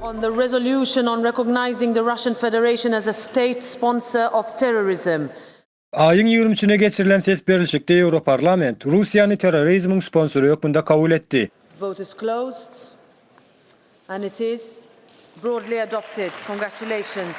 On the resolution on recognizing the Russian Federation as a state sponsor of terrorism. Aýyň ýigrimi üçüne geçirilen ses berilişikde Ýewroparlament Russiýany terrorizmiň sponsory hökmünde kabul etdi. Vote is closed. And it is broadly adopted. Congratulations.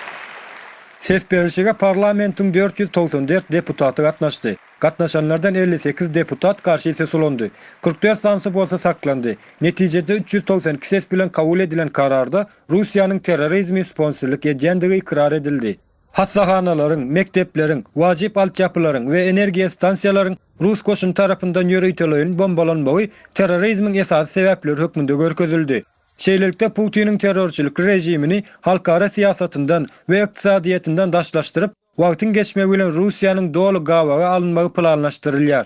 Ses berlişige parlamentiň dört ýüz togsan dört deputaty gatnaşdy. Gatnaşanlardan elli sekiz deputat garşy ses ulandy. Kyrk dört sanysy bolsa saklandy. Netijede üç ýüz togsan iki ses bilen kabul edilen kararda Russiýanyň terrorizmi sponsorlyk edýändigi ykrar edildi. Hassahanalaryň, mekdepleriň, wajyp altyapylaryň we energiýa stansiýalaryň rus goşuny tarapyndan ýöriteleýin bombalanmagy terrorizmiň esasy sebäpleri hökmünde görkezildi. Şeýlelikde, Putiniň terrorçylyk režimini halkara syýasatyndan we ykdysadyýetinden daşlaşdyryp, wagtyň geçmegi bilen Russiýanyň doly gabawa alynmagy planlaşdyrylýar.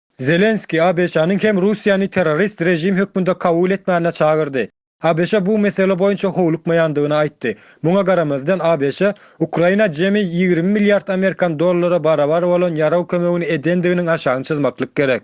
Zelenskiý ABŞ-nyň hem Russiýany terrorist režim hökmünde kabul etmäne çagyrdy. ABŞ bu mesele boýunça howlukmaýandygyny aýtdy. Muňa garamazdan, ABŞ Ukraina jemi ýigrimi milliard amerikan dollara barabar bolan ýarag kömegini edendiginiň aşagyny çyzmaklyk gerek.